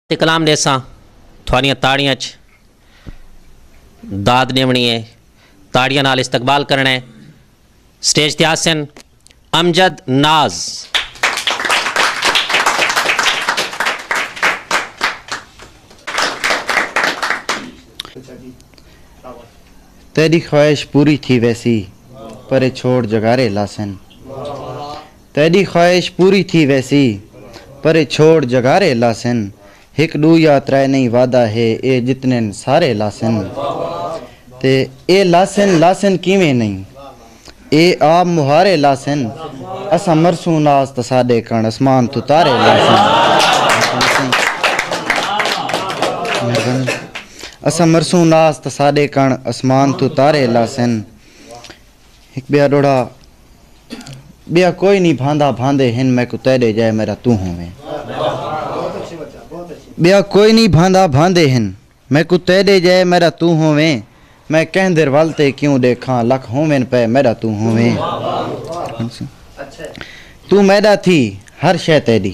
تے کلام ݙیساں تھوانیاں تاڑیاں اچ داد ݙیوݨی اے تاڑیاں نال استقبال کرݨا اے سٹیج تے آسن امجد ناز تیݙی خواہش پوری تھی ویسی پرے چھوڑ جگارے لاسن۔ تیݙی خواہش پوری تھی ویسی۔ پرے چھوڑ جگارے لاسن۔ ہک ݙو یا ترے نئیں وعدہ ہے اے جتنن سارے لاسن۔ تے اے لاسن لاسن کیویں نئیں۔ اے آپ مہارے لاسن۔ اساں مرسوں ناس تاں ساݙے کݨ اسمان توں تارے لاسن۔ اساں مرسوں ناس تاں ساݙے کݨ اسمان توں تارے لاسن۔ ہک ٻیا ݙوہڑا ٻیا کوئی نی بھاندا بھاندے ہن میکوں تیݙے جئے میݙا توں ہوویں ٻیا کوئی نی بھاندا بھاندے ہن میکوں تیݙے جئے میݙا توں ہوویں میں کیندر ول تے کیوں ݙیکھاں لکھ ہوون پئے میݙا توں ہوویں توں میݙا تھی ہر شئے تیݙی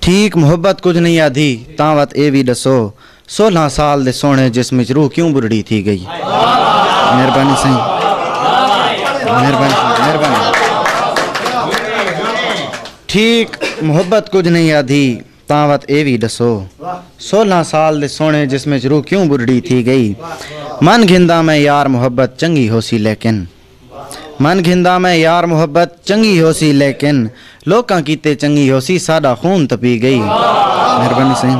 ٹھیک محبت کجھ نئیں آدھی تاں وت اے وی ڈسو سولہاں سال دے سوہنے جسم وچ روح کیوں بڑھڑی تھی گئی مہربانی سائیں مہربانی مہربانی ٹھیک محبت کجھ نئیں آدھی تاں وت اے وی ڈسو سولہاں سال دے سوہنے جسم وچ روح کیوں بڑھڑی تھی گئی من گھندا میں یار محبت چنگی ہوسی لیکن من گھندا میں یار محبت چنگی ہوسی لیکن لوکاں کیتے چنگی ہوسی ساڈا خون تپی گئی مہربانی سائیں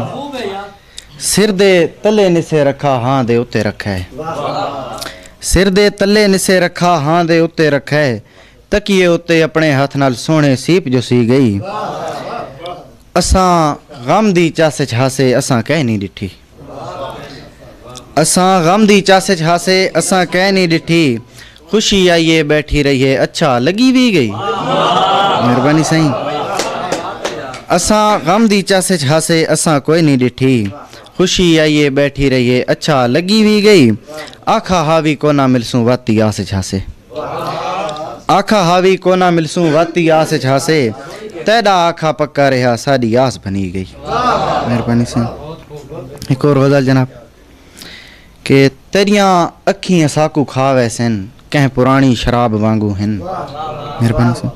سر دے تلے نسے رکھا ہاں دے اتے رکھے سر دے تلے نسے رکھا ہاں دے اتے رکھے تکیے اتے اپنے ہاتھ نال سونے سیپ جو سی گئی اساں غم دی چاسے چھاسے اساں کہہ نہیں ڈٹھی اساں غم دی چس اچ ہاسے اساں کئے نی ڈٹھی خوشی آئی اے بیٹھی رہی اے اچھا لگی وی گئی مہربانی سائیں اساں غم دی چس اچ ہاسے اساں کوئی نی ڈٹھی خوشی آئی اے بیٹھی رہی اے اچھا لگی وی گئی آکھا ہا وی کونا ملسوں وت دی آس اچ ہاسے آکھا ہا وی کونا ملسوں واتی آس اچ ہاسے تیڈا آکھا پکا رہیا ساڈی آس بھنی گئی مہربانی سن ایک اور غزل جناب کہ تیریاں اکھیں اساکو کھا ویسن کہیں پرانی شراب وانگو ہن مہربانی سن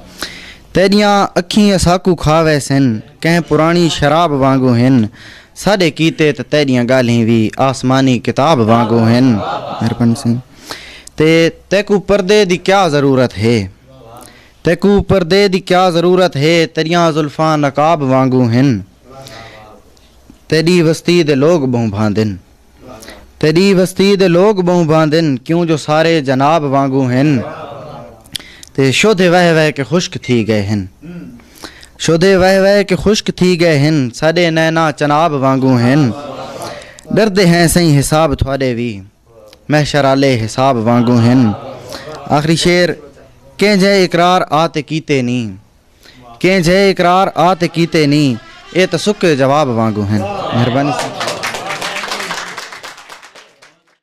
تیریاں اکھیں اساکو کھا ویسن کہیں پرانی شراب وانگو ہن ساڈے کیتے تے تیریاں گالھیں وی آسمانی کتاب وانگو ہن مہربانی سن تے تیکوں پردے دی کیا ضرورت ہے تیکوں پردے دی کیا ضرورت ہے تیریاں زلفاں نقاب وانگوں ہن تیڈی وستی دے لوگ بہوں بھاندن تیڈی وستی دے لوگ بہوں بھاندن کیوں جو سارے جناب وانگوں ہن تے شودھے وہے وہے کے خشک تھی گئے ہن شودھے وہے وہے کے خشک تھی گئے ہن ساڈے نینا چناب وانگوں ہن ڈردے ہیں سہی حساب تھوڑے وی محشر آلے حساب وانگوں ہن آخری شعر کہیں جے اقرار آ تے کیتے نی کہیں جے اقرار آ تے کیتے نی اے تے سکے جواب وانگوں ہن مہربانی